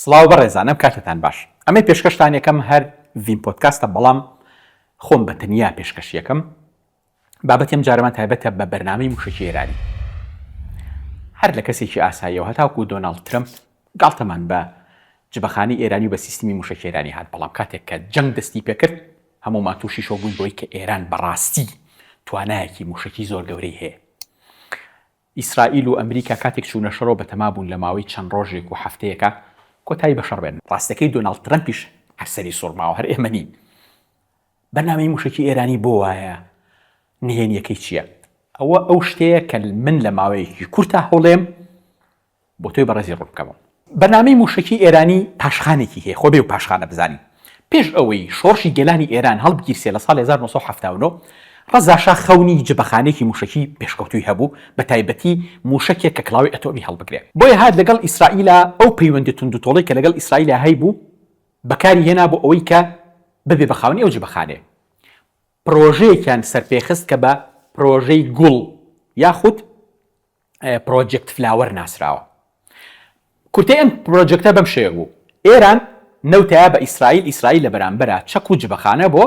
سڵاو بەڕێزانم کاتتان باش ئەمەی پێشکەشتان یەکەم هەر ڤین پۆدکاستە بەڵام خۆم بە تەنیا پێشکەش یەکەم بابەتیم جارەمان تایبەتە بە بەرنامەی موشکی ئێرانی هەر لە کەسێکی ئاساییەوە هەتاکو دۆناڵد ترمپ گاڵتەمان بە جبەخانی ئێرانی و بە سیستمی موشکی ئێرانی هات بەڵام کاتێک کە جەنگ دەستی پێکرد هەموومان تووشی شۆ بووین بۆی کە ئێران بەڕاستی توانایەکی موشکی زۆر گەورەی هەیە ئیسرائیل و ئەمریکا کاتێک چوونە شەڕەوە بەتەما بوون لە ماوەی چەند ڕۆژێک و هەفتەیەکا کۆتایی بە شەڕ بێنن. ڕاستەکەی دۆناڵد ترەمپیش هەر سەری سوڕماوە هەر ئێمە نین. بەرنامەی مووشەکی ئێرانی بۆ وایە؟ نهێنییەکەی چییە؟ ئەوە ئەو شتەیە کە من لە ماوەیەکی کورتا هەوڵێم. بۆ تۆی بەڕێزی ڕوون بکەمەوە. بەرنامەی مووشەکی ئێرانی پاشخانێکی هەیە، خۆ بێ و پاشخانە بزانی. پێش ئەوەی شۆڕشی گەلانی ئێران هەڵبگیرسێ لە ساڵی هەزار و نۆ سەد و حەفتا و نۆ، ڕەزاشا خەونی جبەخانەیەکی مووشەکی پێشکەوتووی هەبوو، بەتایبەتی مووشەکێک کە کڵاوەی ئەتۆمی هەڵبگرێ. بۆیە هات لەگەڵ ئیسرائیلا ئەو پەیوەندی توندوتۆڵەی کە لەگەڵ ئیسرائیلا هەیبوو بەکاری هێنا بۆ ئەوەی کە ببێ بە خاوەنی ئەو جبەخانەیە. پڕۆژەیەکیان سەرپێ خست کە بە پڕۆژەی گوڵ یاخود پرۆجێکت فلاوەر ناسراوە. کورتەی ئەم پرۆجێکتە بەم شێوە بوو، ئێران نەوتەیا بە ئیسرائیل، ئیسرائیل لە بەرامبەرا چەک و جبەخانە بۆ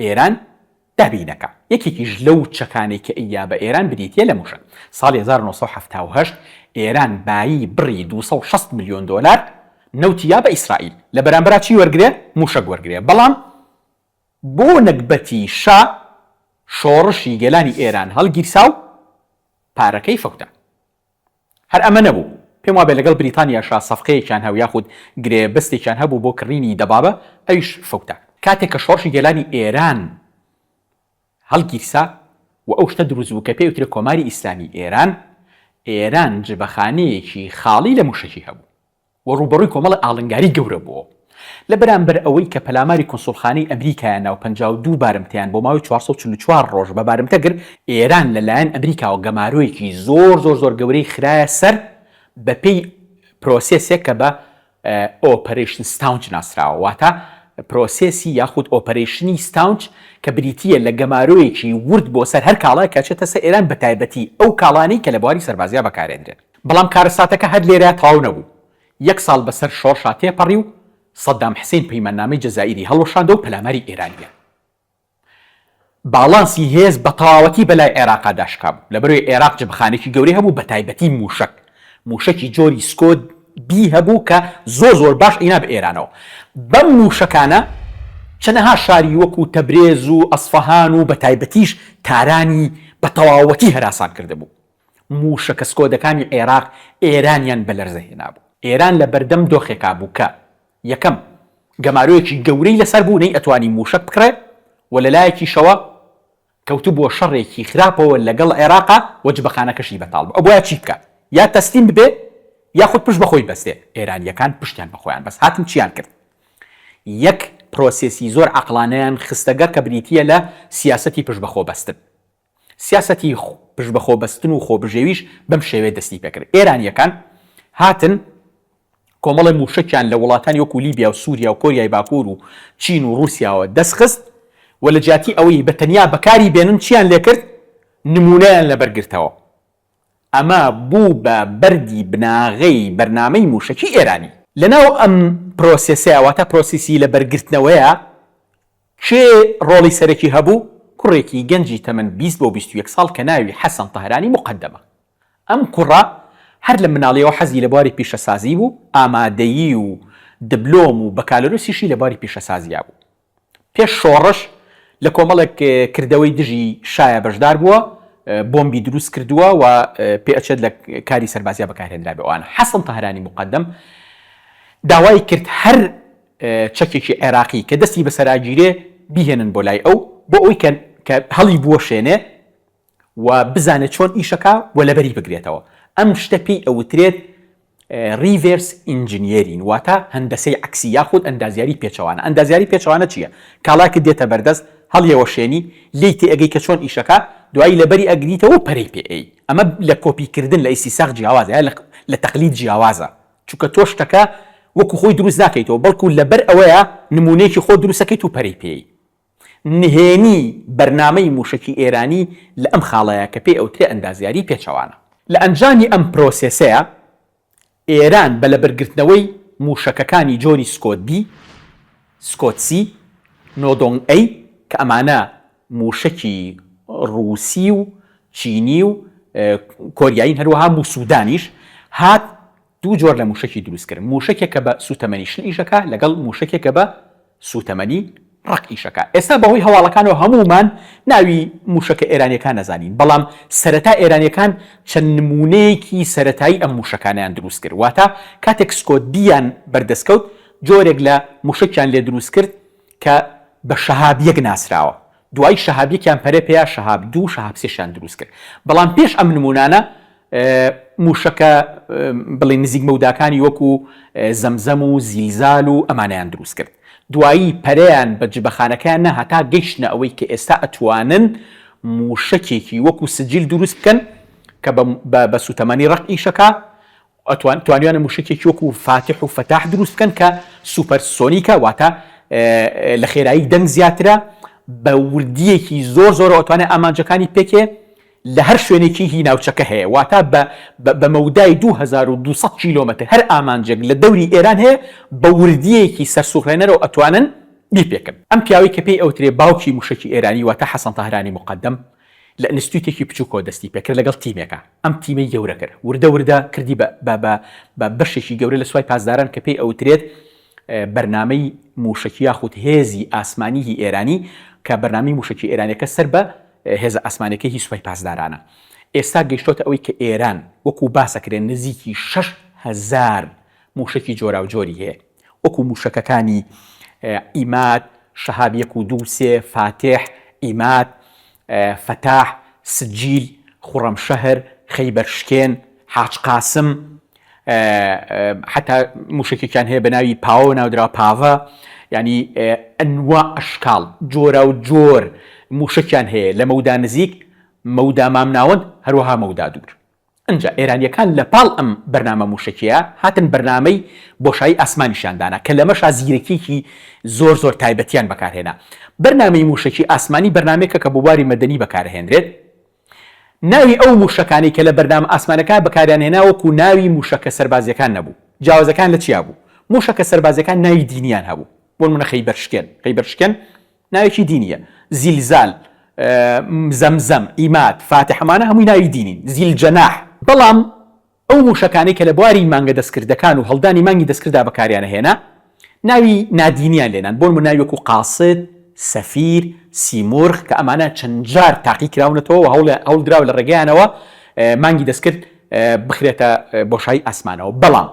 ئێران دابین دەکا. یەکێکیش لەو چەکانەی کە ئەیا بە ئێران بریتییە لە مووشەک. ساڵی هەزار و نۆ سەد و حەفتا و هەشت ئێران بایی بڕی دوو سەد و شەست ملیۆن دۆلار نەوتی یا بە ئیسرائیل، لە بەرامبەرا چی وەرگرێ؟ مووشەک وەرگرێ. بەڵام. بۆ نەگبەتی شا شۆڕشی گەلانی ئێران هەڵگیرسا و پارەکەی فەوتا. هەر ئەمە نەبوو، پێم وابێ لەگەڵ بریتانیاشا سەفقەیەکیان هەو یاخود گرێبەستێکیان هەبوو بۆ کڕینی دەبابە، ئەویش فەوتا. کاتێک کە شۆڕشی گەلانی ئێران هەڵگیرسا و ئەو شتە دروست بوو کە پێی ئەوترێ کۆماری ئیسلامی ئێران، ئێران جبەخانەیەکی خاڵی لە مووشەکی هەبوو. و ڕووبەڕووی کۆمەڵە ئاڵنگاری گەورە بووەوە لە بەرامبەر ئەوەی کە پەلاماری کونسوڵخانەی ئەمریکایان نا و پەنجا و دوو بارمتەیان بۆ ماوەی چوار سەد و چل و چوار ڕۆژ بە بارمتە گرت، ئێران لە لایەن ئەمریکاوە گەمارۆیەکی زۆر زۆر زۆر گەورەی خرایە سەر بە پێی پرۆسێسێک کە بە ئۆپەرەیشن ستاونچ ناسراوە واتە پرۆسێسی یاخود ئۆپەرەیشنی ستاونچ کە بریتی یە لە گەمارۆیەکی ورد بۆ سەر هەر کاڵایەک کە ئەچێتە سەر ئێران بە تایبەتی ئەو کاڵانەی کە لە بواری سەربازیا بەکارێندرێن. بەڵام کارەساتەکە هەر لێرە تەواو نەبوو، یەک ساڵ بەسەر شۆڕشا تێپەڕی و سەدام حسین پەیماننامەی جەزائیری هەڵوەشاندەوە پەلاماری ئێرانیان باڵانسی هێز بەتەواوەتی بەلای عێراقا داشکابوو، لەبەرەوەی عێراق جبەخانێکی گەورەی هەبوو بەتایبەتی موشەک، موشەکی جۆری سکۆ بی هەبوو کە زۆر زۆر باش ئەینا بە ئێرانەوە، بەم موشەکانە چەنەها شاری وەکو تەبرێز و ئەسفەهان و بەتایبەتیش تارانی بەتەواوەتی هەراسان کردبوو. مووشەکە سکۆدەکانی عێراق ئێرانیان بە لەرزە هێنابوو. ئێران لە بەردەم دۆخێکا بوو کە، یەکەم، گەمارۆیەکی گەورەی لەسەر بوو نەیئەتوانی مووشەک بکڕێ و لە لایەکیشەوە کەوتبووە شەڕێکی خراپەوە لەگەڵ عێراقا و جبەخانەکەشی بەتاڵ بوو. ئەبوایە چی بکا؟ یا تەسلیم ببێ یاخود پشت بە خۆی ببەستێ. ئێرانییەکان پشتیان بە خۆیان بەست. هاتن چییان کرد؟ یەک پرۆسێسی زۆر عەقڵانەیان خستەگەڕ کە بریتییە لە سیاسەتی پشت بە خۆ بەستن. سیاسەتی پشت بە خۆ بەستن و خۆ بژێویش بەم شێوەیە دەستی پێ کرد. ئێرانییەکان هاتن کۆمەڵێ مووشەکیان لە وڵاتانی وەکوو لیبیا و سووریا و کۆریای باکوور و چین و ڕووسیاوە دەست خست و لە جیاتی ئەوەی بە تەنیا بەکاری بێنن چییان لێ کرد؟ نموونەیان لە بەر گرتەوە. ئەمە بوو بە بەردی بناغەی بەرنامەی مووشەکی ئێرانی. لە ناو ئەم پرۆسێسەیە واتە پرۆسیسی لە بەر گرتنەوەیە کێ ڕۆڵی سەرەکی هەبوو؟ کوڕێکی گەنجی تەمەن بیست بۆ بیست و یەک ساڵ کە ناوی حەسەن تەهرانی موقەدەمە. ئەم کوڕە هەر لە مناڵییەوە حەزی لە بواری پیشەسازی بوو، ئامادەیی و دبلۆم و بەکالۆریۆسیشی لە بواری پیشەسازیا بوو. پێش شۆڕش لە کۆمەڵێک کردەوەی دژی شایە بەشدار بووە، بۆمبی دروست کردووە و پێئەچێت لە کاری سەربازیا بەکارهێنرابێ ئەوانە. حەسەن تەهرانی موقەدەم داوای کرد هەر. چەکێکی عێراقی کە دەستی بەسەراگیرێ بیهێنن بۆ لای ئەو بۆ ئەوەی کە کە هەڵی بوەشێنێ و بزانێ چۆن ئیشەکا و لەبەری بگرێتەوە ئەم شتە پێی ئەوترێت ریڤێرس ئینجنیێرین واتە هەندەسەی عەکسی یاخود ئەندازیاری پێچەوانە ئەندازیاری پێچەوانە چییە کاڵاکت دێتە بەردەست هەڵیەوەشێنی لێی تێئەگەی کە چۆن ئیشەکە دوایی لەبەری ئەگریتەوە پەرەی پێ ئەی ئەمە لە کۆپی کردن لە ئیسیساغ جیاوازە لە لە تەقلید جیاوازە چونکە تۆ شتەکە وەکو خۆی دروست ناکەیتەوە بەڵکو لەبەر ئەوەیە نمونەیەکی خۆت دروست ئەکەیت و پەرەی پێی نهێنی، بەرنامەی موشەکی ئێرانی لە ئەم خاڵەیە کە پێی ئەوترێ ئەندازیاری پێچەوانە. لە ئەنجامی ئەم پرۆسێسەیە ئێران بە لەبەرگرتنەوەی موشەکەکانی جۆری سکۆت بی، سکۆت سی، نۆدۆنگ ئەی کە ئەمانە مووشەکی ڕووسی و چینی و کۆریایین هەروەها بو سودانیش هات دوو جۆر لە مووشەکی دروست کرد مووشەکێک کە بە سووتەمەنی شل ئیش ئەکا لەگەڵ مووشەکێک کە بە سووتەمەنی ڕەق ئیش ئەکا ئێستا بەهۆی هەواڵەکانەوە هەموومان ناوی مووشەکە ئێرانیەکان ئەزانین بەڵام سەرەتا ئێرانیەکان چەند نموونەیەکی سەرەتایی ئەم مووشەکانەیان دروست کرد واتە کاتێک سکۆدیان بەردەست کەوت جۆرێک لە مووشەکیان لێ دروست کرد کە بە شەهاب یەک ناسراوە دوای شەهاب یەکیان پەرە پێیا شەهاب دوو شەهاب سێشیان دروست کرد بەڵام پێش ئەم نمونانە موشەکە بڵی نزیک مەوداکانی وەکو زەمزەم و زیلزال و ئەمانیان دروست کرد دوایی پەریان بە جبەخانەکەیان نە هەتا گەیشتە ئەوەی کە ئێستا ئەتوانن موشەکێکی وەکو سجیل دروست بکەن کە بە سوتەمەنی ڕەق ئیشەکە ئەتوان توانیانە موشەکێکی وەکو فاتح و فەتاح دروست بکەن کە سوپەر سۆنیکە واتە لە خێرایی دەنگ زیاترە بە وردیەکی زۆر زۆرەوە توانێت ئامانجەکانی پێکێ لە هەر شوێنێکی هی ناوچەکە هەیە واتە بە مەودای 2200 کیلۆمەتر هەر ئامانجێک لە دەوری ئێران هەیە بە وردیەکی سەرسوڕهێنەرەوە ئەتوانن بیپێکن ئەم پیاوەی کە پێی ئەوترێ باوکی موشەکی ئێرانی واتە حەسەن تاهرانی مقدم لە ئینستیتوتێکی بچوکەوە دەستی پێکرد لەگەڵ تیمێکا ئەم تیمەی گەورە کرد وردە وردە کردی بە بە بە بە بەشێکی گەورە لە سوپای پاسداران کە پێی ئەوترێت بەرنامەی موشەکی یاخود هێزی ئاسمانی هی ئێرانی کە بەرنامەی موشەکی ئێرانیەکە سەر بە هێزە ئاسمانیەکەی هی سوپای پاسدارانە ئێستا گەیشتۆتە ئەوەی کە ئێران وەکو باسەکرێ نزیکی شەش هەزار موشەکی جۆراوجۆری هەیە. وەکو موشەکەکانی، عیماد، شەهاب یەک و دوو و سێ، فاتیح، ئیماد، فەتاح، سجیل، خوڕەمشەهر، خەیبەرشکێن، حاج قاسم، حەتا موشەکێکیان هەیە بەناوی پاوە ناودراوە پاڤە یانی ئەنواع ئەشکاڵ جۆراوجۆر موشەکیان هەیە لە مەودا نزیک مەودا مامناوەند هەروەها مەودا دوور. ئنجا ئێرانییەکان لە پاڵ ئەم بەرنامە مووشەکییە هاتن بەرنامەی بۆشایی ئاسمانیشیان دانا کە لەمەشا زیرەکییەکی زۆر زۆر تایبەتیان بەکار هێنا. بەرنامەی مووشەکی ئاسمانی بەرنامەیەکە کە بۆ باری مەدەنی بەکار ئەهێنرێت. ناوی ئەو مووشەکانەی کە لە بەرنامە ئاسمانەکە بەکاریان هێنا وەکوو ناوی مووشەکە سەربازییەکان نەبوو. جیاوازەکان لە چیا بوو؟ مووشەکە سەربازییەکان ناوی دینییان هەبوو. بۆ نموونە خەیبەرشکێن، Khaybershken، ناوێکی دینیە زیلزال، زەمزەم، ئیماد، فاتح ئەمانە هەمووی ناوی دینین، زیلجەناح، بەڵام ئەو موشەکانەی کە لە بواری مانگە دەستکردەکان و هەڵدانی مانگی دەستکرددا بەکاریان ئەهێنا ناوی نادینیان لێنان بۆنموونە ناوی وەکو قاسد، سەفیر، سیمورغ کە ئەمانە چەند جار تاقی کراونەتەوە و هەوڵدراوە لە ڕێگەیانەوە مانگی دەستکرد بخرێتە بۆشایی ئاسمانەوە بەڵام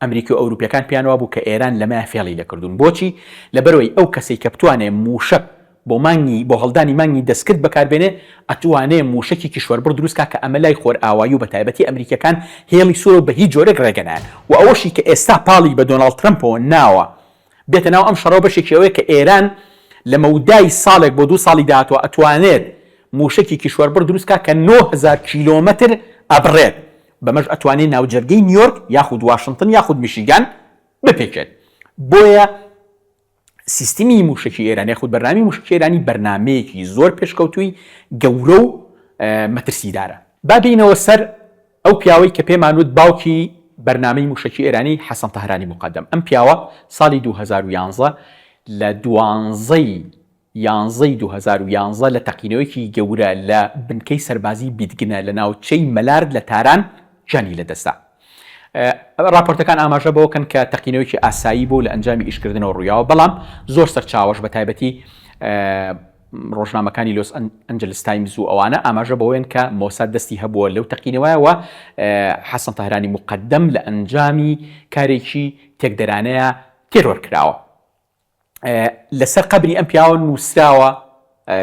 ئەمریکی و ئەوروپیەکان پێیان وابوو کە ئێران لەمەیە فێڵی لێکردوون بۆچی؟ لەبەرئەوەی ئەو کەسەی کە بتوانێ مووشەک بۆ مانگی بۆ هەڵدانی مانگی دەستکرد بەکار بێنێ ئەتوانێ مووشەکی کیشوەربڕ دروست کا کە ئەمە لای خۆرئاوایی و بەتایبەتی ئەمریکیەکان هێڵی سوورە و بەهیچ جۆرێک ڕێگە نایەن و ئەوەشی کە ئێستا پاڵی بە دۆناڵد ترەمپەوە ناوە بێتە ناو ئەم شەڕەوە بەشێکی ئەوەیە کە ئێران لە مەودای ساڵێک بۆ دوو ساڵی داهاتوە ئەتوانێت مووشەکی کیشوەربڕ دروست کا کە نۆ هەزار کیلۆمەتر ئەبڕێت بەمەش ئەتوانێت ناوجەرگەی نیۆرک یاخود واشنتن یاخود میشیگان بپێکێت. بۆیە سیستمی موشەکی ئێران یاخود بەرنامەی موشکی ئێرانی بەرنامەیەکی زۆر پێشکەوتووی گەورە و مەترسیدارە. با بێینەوە سەر ئەو پیاوەی کە پێمان وت باوکی بەرنامەی موشەکی ئێرانی حەسەن تەهرانی موقەدەم. ئەم پیاوە ساڵی دوو هەزار و یازدە لە دوانزەی. یانزە ی دوو هەزار و یانزە لە تەقینەوەیەکی گەورە لە بنکەی سەربازیی بیدگنە لە ناوچەی مەلارد لە تاران گیانی لەدەستدا. راپۆرتەکان ئاماژە بەوەکەن کە تەقینەوەیەکی ئاسایی بوو لە ئەنجامی ئیشکردنەوە روویاوە، بەڵام زۆر سەرچاوەش بە تایبەتی رۆژنامەکانی لۆس ئەنجلس تایمز و ئەوانە ئاماژە بەوەیەن کە مۆساد دەستی هەبووە لەو تەقینەوە و حەسەن تەهرانی موقەدەم لە ئەنجامی کارێکی تێکدەرانەیە تێرۆر کراوە. لەسەر قەبری ئەم پیاوە نووسراوە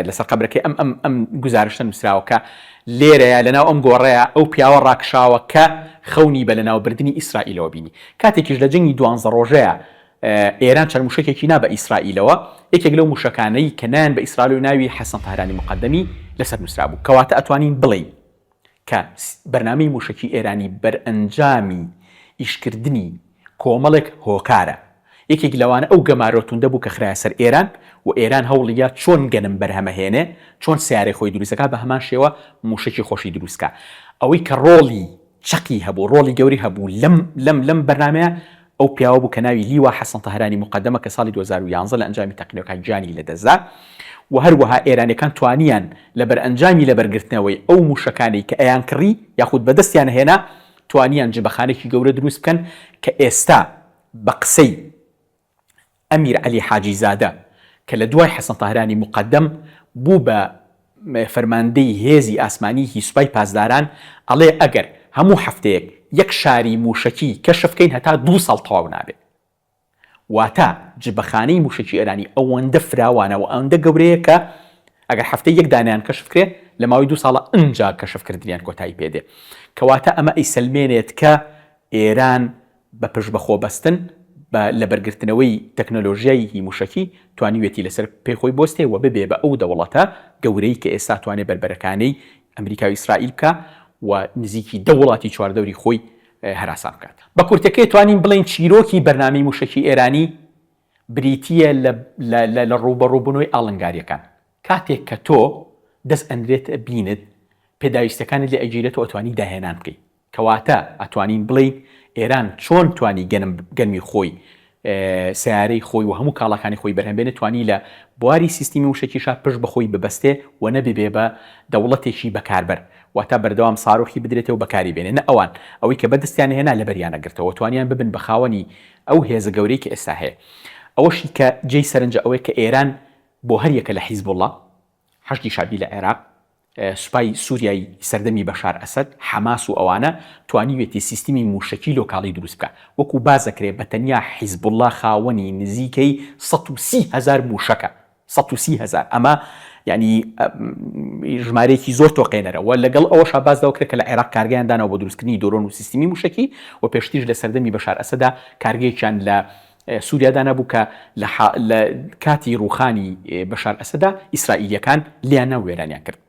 لەسەر قەبرەکەی ئەم ئەم ئەم گزارشتە نووسراوە کە لێرەیە لەناو ئەم گۆڕەیە ئەو پیاوە ڕاکشاوە کە خەونی بە لەناوبردنی ئیسرائیلەوە بینی کاتێکیش لە جنگی دوانزە ڕۆژەیە ئێران چەند موشکێکی نا بە ئیسرائیلەوە یەکێک لەو موشەکانەی کە نان بە ئیسرائیل و ناوی حەسەن تەهرانی مقدەمی لەسەر نووسرا بوو کەواتە ئەتوانین بڵێین کە بەرنامەی مووشەکی ئێرانی بەرئەنجامی ئیشکردنی کۆمەڵێک هۆکارە، یەکێک لەوانە ئەو گەمارۆ توندە بوو کە خرایە سەر ئێران و ئێران هەوڵیدا چۆن گەنم بەرهەمەهێنێ، چۆن سەیارەی خۆی دروست دەکا، بە هەمان شێوە مووشەکی خۆشی دروست کا. ئەوەی کە ڕۆڵی چەقی هەبوو، ڕۆڵی گەورەی هەبوو لەم لەم لەم بەرنامەیە، ئەو پیاوە بوو کە ناوی لیوا حەسەن تەهرانی موقەدەمە کە ساڵی دوو هەزار و یازدە لە ئەنجامی تەقینەوەکان گیانی لەدەستدا و هەروەها ئێرانیەکان توانیان لە بەرئەنجامی لەبەرگرتنەوەی ئەو موشەکانەی کە ئەیانکڕی یاخود بەدەستیان ئەهێنا توانیان جبەخانەکی گەورە دروست بکەن کە ئێستا بە قسەی ئەمیر عەلی حاجی زادە کە لە دوای حەسەن تاهرانی موقەدەم بوو بە فەرماندەی هێزی ئاسمانیی سوپای پاسداران ئەڵێ ئەگەر هەموو هەفتەیەک یەک شاری مووشەکی کەشف کەین هەتا دوو ساڵ تەواو نابێت. واتە جبەخانەی مووشەکی ئێرانی ئەوەندە فراوانە و ئەوەندە گەورەیە کە ئەگەر هەفتەی یەک دانەیان کەشف کرێ لە ماوەی دوو ساڵە ئنجا کەشف کردنیان کۆتایی پێ دێ. کەواتە ئەمە ئەیسەلمێنێت کە ئێران بە پشت بە خۆ بەستن بە لەبەرگرتنەوەی تەکنەلۆژیای ی موشەکی توانیوێتی لەسەر پێی خۆی بۆستێ وە ببێ بە ئەو دەوڵەتە گەورەی کە ئێستا توانێ بەربەرەکانێی ئەمریکا و ئیسرائیل بکا و نزیکی دە وڵاتی چواردەوری خۆی هەراسان بکات. بە کورتەکەی توانین بڵێین چیرۆکی بەرنامەی موشەکی ئێرانی بریتیە لە لە ڕووبەڕوو بونەوەی ئاڵنگاریەکان کاتێک کە تۆ دەست ئەنرێتە بینت پێداویستەکانت لێ ئەگیرێتەوە ئەتوانی داهێنان بکەی کەواتە ئەتوانین بڵێین ئێران چۆن توانی گەنم گەنمی خۆی، سەیارەی خۆی و هەموو کاڵاکانی خۆی بەرهەم بێنێ، توانی لە بواری سیستمی موشەکیشا پشت بە خۆی ببەستێ و نەببێ بە دەوڵەتێکی بەکاربەر، واتە بەردەوام ساروخی بدرێتێ و بەکاری بێنێ، نە ئەوان ئەوەی کە بەدستیان هێنا لەبەریان نەگرتەوە و توانیان ببن بە خاوەنی ئەو هێزە گەورەی کە ئێستا هەیە. ئەوەشی کە جێی سەرنجە ئەوەیە کە ئێران بۆ هەر یەکە لە حیزبوڵا، حەشدی شەعبی لە عێراق، سوپای سوریای سەردەمی بەشار ئەسەد، حەماس و ئەوانە، توانیوێتی سیستمی موشەکی لۆکاڵی دروست بکا. وەکو باس دەکرێ بە تەنیا حیزبوڵا خاوەنی نزیکەی سەد و سی هەزار موشەکە. سەد و سی هەزار. ئەمە یانی ژمارەیەکی زۆر تۆقێنەرە و لەگەڵ ئەوەشا باس لەوە کرا کە لە عێراق کارگەیان داناوە بۆ دروستکردنی دۆرۆن و سیستمی موشەکی و پێشتریش لە سەردەمی بەشار ئەسەدا کارگەیەکیان لە سوریا دانابوو کە لە لە کاتی ڕووخانی بەشار ئەسەدا ئیسرائیلییەکان لیانە و وێرانیان کرد.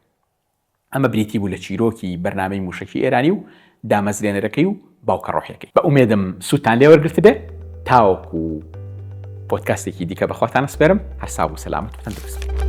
ئەمە بریتی بوو لە چیرۆکی بەرنامەی مووشەکی ئێرانی و دامەزرێنەرەکەی و باوکە ڕۆحیەکەی. بە ئومێدم سوودتان لێ وەرگرتبێ. تاوەکو پۆدکاستێکی دیکە بەخواتان ئەسپێرم، هەر ساغ و سەلامەت و تەندروست بن.